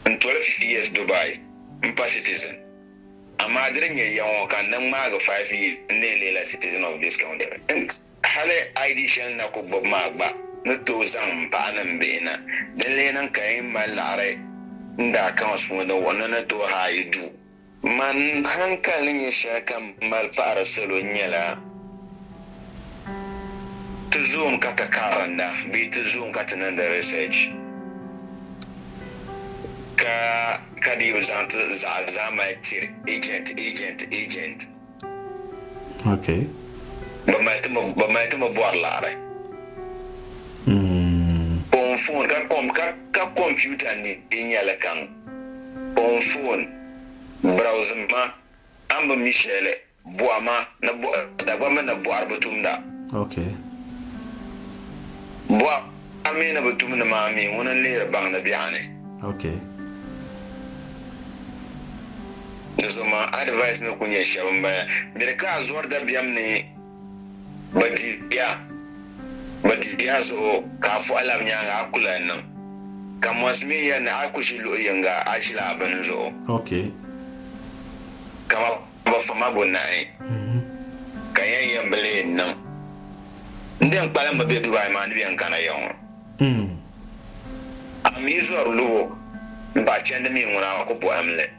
N tolisi years Dubai m pa citizen amaa di di nyɛ ya ŋɔ ka n ni ŋmaagi five years n lee leela citizen of this country hence hali ID shɛli n na ku gbubi maa gba ni tooi zaŋ m paɣa ni m bihi na din lee niŋ ka yi ni mali laɣiri n daa accounts puuni wuhi ni ni tooi haai yi duu Man hankali ni nyɛ shɛli ka m mali paɣiri salo n-nyɛla, ti zoom ka ti karinda bee ti zoom ka ti niŋdi research ka ka dii bi zaŋ ti zaɣa zaa mali tiri agent, agent, agent. Okay. Bɛ mali ti mi bɛ mali ti mi bɔri laɣiri. Mm. On phone ka kom ka ka computer ni di nyɛli kaŋ. Kpaŋ foon, browse ma, a ni bi mi shɛli, bɔhi ma ni bɔhi Dagbaŋ mi ni bɔhiri bi tumda. Ok. Bɔhi a mi ni bi tum ni maa mi ŋuni n lihiri baŋ ni bɛ a ni. Ok. Di zuɣu ma advice ni ku nyɛ shɛba m bala, miri ka a zɔri dabiɛm ni. Ba di ya, ba di ya zuɣu ka a fɔɣi lab nyaaŋa a ku lan niŋ. Ka mɔnsi mi ya ni a ku ʒi luɣ yiŋga a ʒila a bini zuɣu. Okay. Kama ba fa ma bo nahi ka yɛn yɛn bi leei n-niŋ. N di yɛn kpalim mi be Dubai maa ni bɛ yɛn kana ya ŋɔ. A mi zɔri lubo m-bahi chandi mi ŋuna a ku bɔhim li.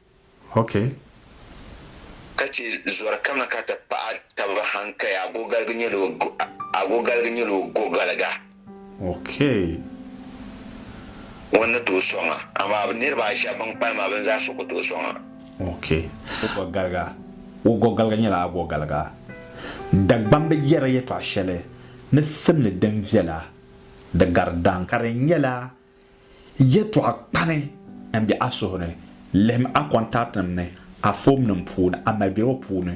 Ok. Ka chɛ zɔri kaŋa ka ti paɣi taba hankaya agogaligi nyɛla o agogaligi nyɛla o gogaliga. Ok. Ŋun ni tooi sɔŋ a, amaa niriba ayi shɛba bɛn kpalim maa bɛ ni zaa so ku tooi sɔŋ a. Ok. Gogaliga, O gogaliga nyɛla agogaliga. Dagbaŋ bi yɛri yɛtɔɣ shɛli ni simdi din viɛla di gari daŋ ka di nyɛla Yɛtɔɣa kpani n be a suhu ni, lihim a kɔntaatinim ni a fomnim puuni a malibɛribo puuni.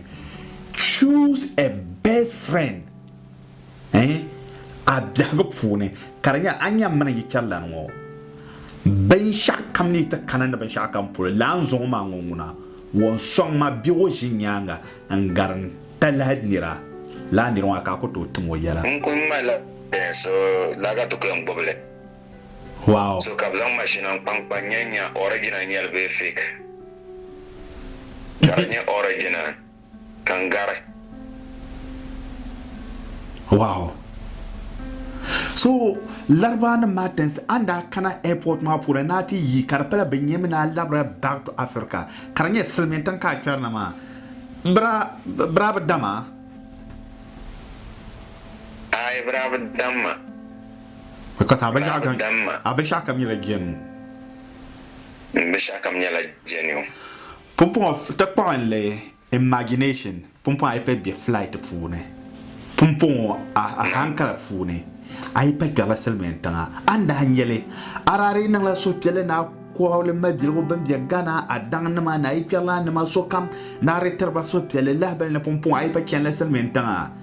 Choose a best friend in a biɛhigu puuni ka di nyɛla a nya mini yikpɛrilana ŋɔ binshɛɣukam ni yi ti kana ni binshɛɣukam polo, lala n zɔŋ o maa ŋɔ ŋuna, wɔn sɔŋ ma be o ʒi nyaaŋa n gari n talahi nira, lala nira ŋɔ a ka a ku tooi tim o yɛla. N kul ŋmalila bɛn so laga dukuya n-gbubi li. Wow! So ka bɛ zaŋ mashina n-kpankpa n-nya n-nya original nyɛli bee fake. Ka di nyɛ original ka n gari. Wow! So Larabawanim maa tinsi a ni daa kana airport maa puuni ni a ti yi ka di pala bɛ nyami ni a labira back to Africa ka di nyɛ silimiin tiŋ ka a kpɛri na maa bira bi dam a? Aai bira bi dam ma. Ka bi dam ma. A binshɛɣu kam nyɛla jɛniu. N binshɛɣu kam nyɛla jɛniu. Pumpɔŋɔ ti kpuɣi n li imagination pumpɔŋɔ a yi pɛri bɛ flight puuni pumpɔŋɔ a hankala puuni a yi pa kpɛrila silimiin tiŋa a ni daa nyɛli a daa dii niŋla suhupiɛlli ni a kɔhili mabiligu bɛn bɛ Ghana a daŋ nima ni a yi kpɛrila a nima sokam ni a dii tiriba suhupiɛlli lahibali ni pumpɔŋɔ a yi pa chanila silimiin tiŋa.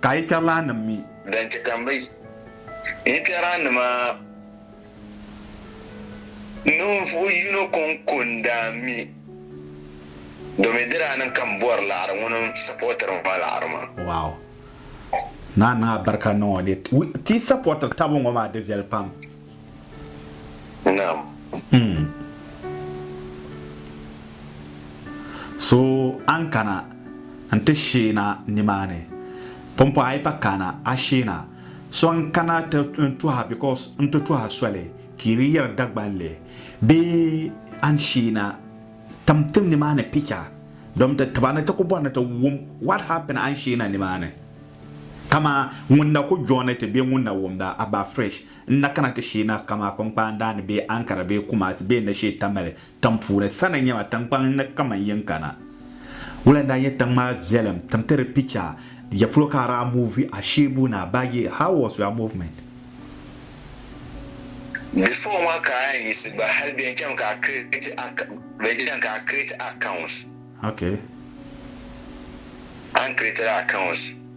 Ka a yikpɛrilaannim mi. Din chɛ ka m bi yikpɛraannima ninvuɣ yino kɔŋkondaa mi, domin di daa niŋ ka m bɔri laɣiri ŋun sapɔɔtiri ma laɣiri maa. Wow! Naa niŋ a barikanima ŋɔ ni ti sapɔɔtiri taba ŋɔ maa di viɛli pam. Naam. Hmm. So a ni kana nti sheena nimaani, pumpɔɣu a yi pa kana a sheena. So n kana ti n tuha because n ti tuha soli ka yi di yiri Dagbanli bee a ni sheena tim tim nimaani picha domi ti tiba ni ti ku bɔri ni ti wum what happened a ni sheena nimaani. Kaman ŋun na ku joini ti bee ŋun na wumda a ba fresh. N na kana ti shee na kamaa Kpaŋkpaan Daa ni bee Ankara bee Kumasi bee na shee Tamale tiŋ puuni. Sa ni nya ma, tiŋkpaŋ ni kaman yin kana. Wula n-daa nyɛ tiŋ maa viɛlim? Tim ti di picha. Ya polo ka a daa movi a sheebu na baa yee? How was your movement? Before maa ka a yɛn yiɣisi gba hali bɛn chaŋ ka a create accounts. Okay. A ni creatiri accounts.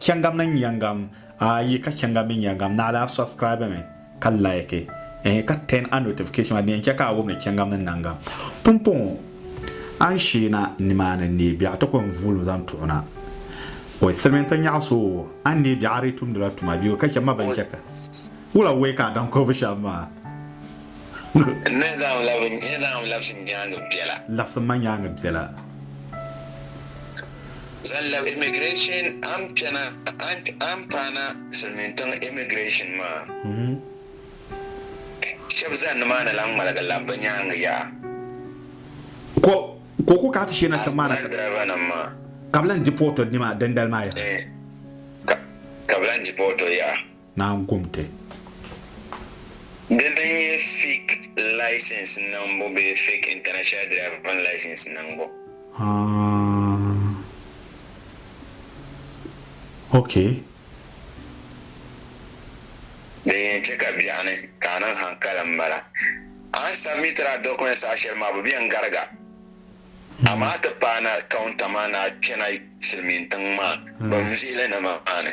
Chɛŋa mini nyɛŋa a yi ka chɛŋa mini nyɛŋa naɣila a subscribe mi ka like ehe ka turn a notification maa di yɛn chɛ ka a wum ni chɛŋa mini naŋa pumpɔŋɔ a ni shee na nimaani neei biɛɣu ti kɔŋ vuulim zaŋ tuɣi na oi silimiinti nyaɣi so o a ni neei biɛɣu a dii tumdila tuma bee o ka chɛ ma bɛn chɛ ka wula wei ka a daŋ kɔbu shɛm maa N ni zaŋ labi N ni zaŋ labisi nyaaŋa biɛla. labisi ma nyaaŋa biɛla. Zaŋ labi immigration an kpɛna an paana silimiin tiŋ immigration maa. Shɛb zan nimaani lan ŋmaligi labi bɛ nyaaŋa yaha. Ko o ku kana ti shee na tiŋ maa na ka bɛ lan deport o dini maa dindali maa yaha. Ka bɛ lan deport o yaha. naan gom ti. Di din nyɛ fik license niŋbu bee fik international driving license niŋbu. Haa okay. Din yɛn chɛ ka biɛɣu ni ka a niŋ hankali m-bala. A ni submitiri a documents saha shɛli maa bɛ be n-gariga amaa ti paana counter maa ni a kpɛna silimiintiŋ maa binvihili ni maa ni.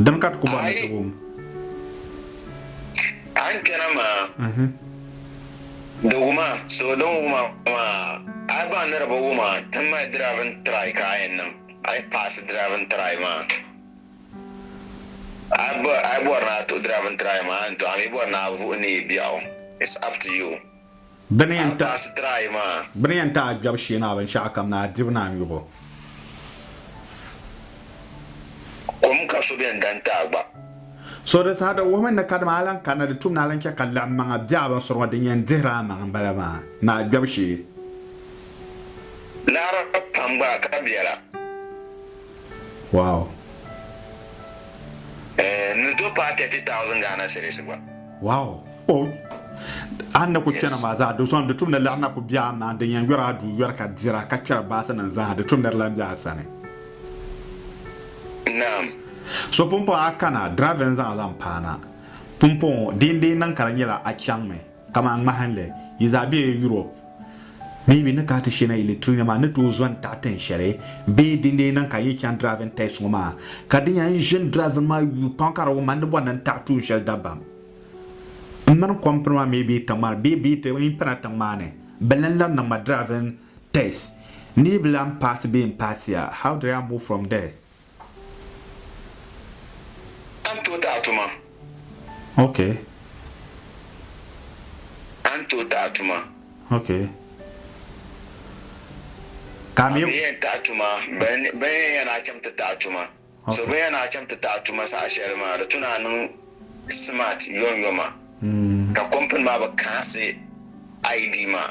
Dini ka ti ku bɔri ni ti wum? A ni kpɛna maa, di wum a, so din wum a maa, a yi baŋ ni di bi wum a, ti mali driving try ka a yɛn niŋ, a yi paasi driving try maa, a yi bɔri ni a tuhi driving try maa, a ni tuhi, a mi bɔri ni a vuhi ni yi biɛɣu, it's up to you. Bɛ ni yɛn ti a kpɛbu shee ni a binshɛɣukam ni a dibu ni a nyubu. So di saha di wuhimi ni kadama a lan kanna di tumni a lan chɛ ka laɣimmaŋa be a binsuri ŋɔ din yɛn dihiri a maŋa m-bala maa ni a kpɛbu shee. Wow! Wow! Oh! A ni ku chana maa zaa, di sɔŋ di tumdi lari na ku bɛ a maŋ, din yɛn yɔri a duu yɔri ka dira ka kpɛri baasi nim zaa, di tumdi di lan bɛ a sani. Naam. So pumpɔŋɔ a kana, drive n zaŋ zaŋ paana. Pumpɔŋɔ, di yi n dii niŋ ka di nyɛla a chaŋ mi, kaman ŋmahinli, yi zaa bɛ Europe, Maybe ni ka ti shena yi li training maa ni tooi zɔni taɣi tin shɛli bee din lee niŋ ka yi chaŋ driving test ŋɔ maa ka di nya n ʒini driving maa yuui pam ka di wum ma ni bɔni n taɣi tuun shɛli dabam m mini company maa maybe tiŋ maa ni bee bee n pana tiŋ maa ni bɛ lan lahi niŋ ma driving test ni yi bi lan paasi bee n paasiya how did I move from there? A ni tooi taɣi tuma? Ok. A ni tooi taɣi tuma? Ok. Ka mi. A mi yɛn taɣi tuma, ben yɛn ya ni a chaŋ ti taɣi tuma. So ben ya ni a chaŋ ti taɣi tuma saha shɛli maa, di tu ni a niŋ smart yomyoma, ka company maa bi kaɣisi ID maa.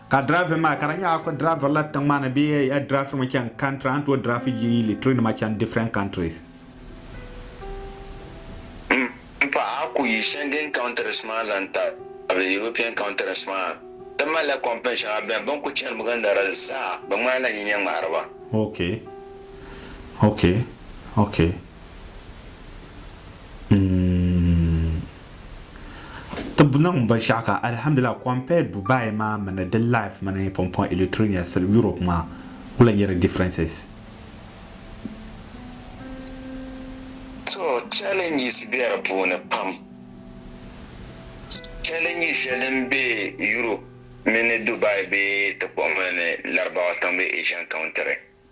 Ka driving maa ka di nyɛla ku driving la tiŋ maa ni bee a yi driving mi chani country a ni tooi driving yi litiri nima chani different countries. M paɣa a ku yi Schengen countries maa zaŋ tabili European countries maa ti mali la company shɛŋa bɛni bɛ ni ku chani gindara zaa bɛ ŋmani la nyinyɛ ŋmahiriba. Ok ok ok mm. Tib niŋ binshɛɣu ka alhamdulillah compare Dubai maa mini di life mini Pumpong Electronia sili Europe maa wula n-nyɛ di differences? To challenges be di puuni pam. Challenge shɛli din be Europe mini Dubai bee ti kpuɣi mali ni Larabawa tiŋ bee Asian country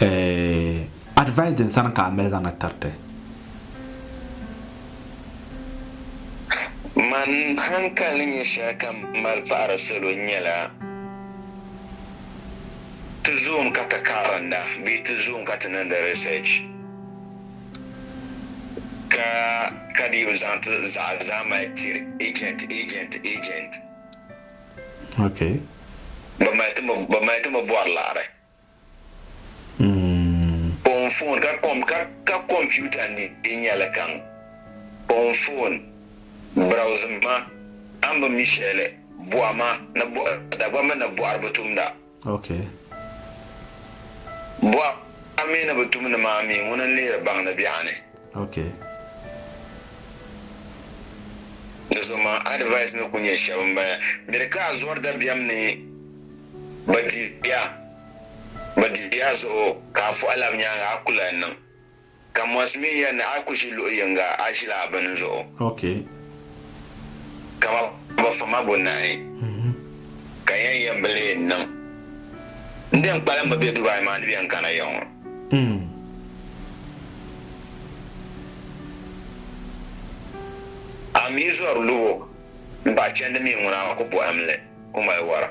eh, advice din sani ka a mali zaŋ na tiriti? Man hankali ni nyɛ shɛli ka m mali pahiri salo nyɛla, ti zoom ka ti karinda bee ti zoom ka ti niŋdi research ka ka dii bi zaŋ ti zaɣa zaa mali tiri agent, agent, agent. Okay. Bɛ mali ti mi bɛ mali ti mi bɔri laɣiri. Mm. On phone ka kom ka ka computer ni di nyɛli kaŋ. On phone browse ma an bi mi shɛli bɔhi ma ni bɔhi Dagbamba ni bɔhiri bi tumda. Ok. Bɔɣa mi ni bi tum ni maa mi ŋuni n lihiri baŋ ni biɛɣu ni. Ok. Di zuɣu maa advice ni ku nyɛ shɛba n bala miri ka a zɔri dabiɛm ni ba di ya ba di ya zuɣu ka a fuhi lab nyaaŋa a ku lahi niŋ. Ka mɔsi mi ya ni a ku ʒi luɣ yiŋga, a ʒila a bini zuɣu. Okay. Ka ma ba fa ma bo naai, ka n yɛn yɛn bi lee niŋ. N din kpalim mi be Dubai maa ni bɛ yɛn kana ya ŋɔ. A mi zɔri lubo m-bahi chandi mi ŋuna a ku bɔhim li, ku mali wara.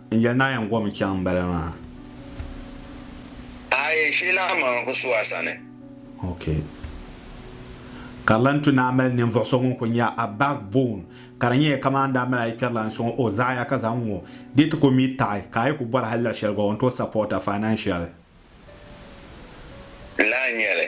N yɛli naa yɛn gom chaŋ m-bala maa. Aai shee naa maŋ n ku su a sani. Ok. Ka di lan tu ni a mali ninvuɣ so ŋun ku nya a backbone, ka di nyɛya kaman a ni daa mali a yi kpɛri la n sɔŋ o zaɣa ya ka zaŋ ŋ-ŋɔ, dee ti ku mi taɣi, ka a yi ku bɔri hal luɣ shɛli gba o ni tooi support a financially. N lahi nya li.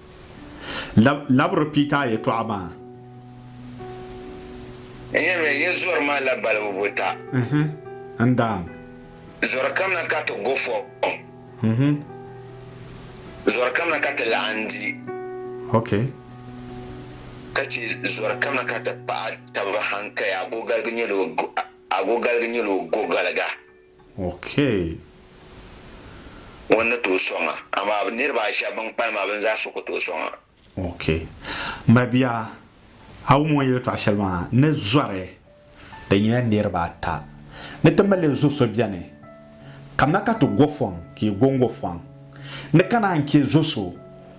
Labiri Pita yɛtɔɣa maa. N yɛliya, Yi zɔri maa la balibu buta. N daa. Zɔri kam na ka ti go fɔhim. Zɔri kam na ka ti laɣim di. Ok. Ka chɛ zɔri kam na ka ti paɣi tab hankaya agogaligi nyɛla o gogaliga. Okay. Ŋun ni tooi sɔŋ a, amaa niriba ayi shɛba bɛn kpalim maa bɛ ni zaa so ku tooi sɔŋ a. Okay. M ba bia, a wum o ni yɛltɔɣa shɛli maa ni zɔri din nyɛla niriba ata ni ti mali zo so beni. Kamina ka ti go fɔŋ ka yi go n-go fɔŋ. Ni ka naan chɛ zo so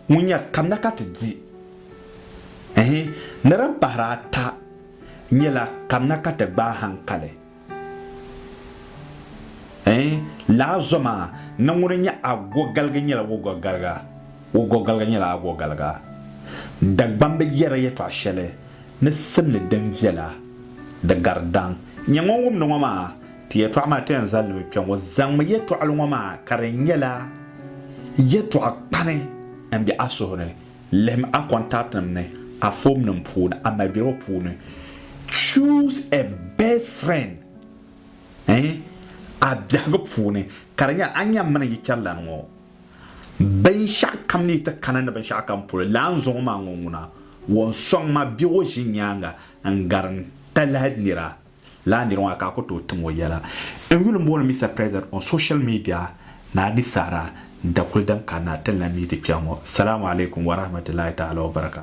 ŋun nya kamina ka ti di ɛɛh ni din pahiri ata nyɛla kamina ka ti gbaai haŋkali. Ɛɛn, laa zɔma ni ŋuni nyɛ agogaliga nyɛla wogogaliga, wogogaliga nyɛla agogaliga. Dagbamba bi yɛrila yɛtɔɣ shɛli ni simdi din viɛla di gari daŋ. Nyɛ ŋun wumdi ŋɔ maa, ti yɛtɔɣ maa ti yɛn zali ni bɛ kpe ŋɔ. Zaŋmi yɛtɔɣili ŋɔ maa ka di nyɛla yɛtɔɣ kpani m-be a suhu ni. Lihim a kɔntaatinim ni, a foomnim puuni, a malibɛbo puuni. Choose a best friend in a biɛhigu puuni, ka di nyɛla a nya m mini yi kpɛrilana ŋɔ binshɛɣukam ni yi ti kana ni binshɛɣukam polo, lala n zɔŋɔ maa ŋɔ ŋuna, wan sɔŋ ma bɛ o ʒi nyaaŋa n gari n talahi nira. Lala niri ŋɔ ka a ku tooi tim o yɛla. N yuli m-booni Mister President on social media ni a di saɣira n-da kuli din kanna ti n lan mi ti kpɛŋ ŋɔ. Salamu alaikum wa rahmatullahi ta'ala wa barakatuh.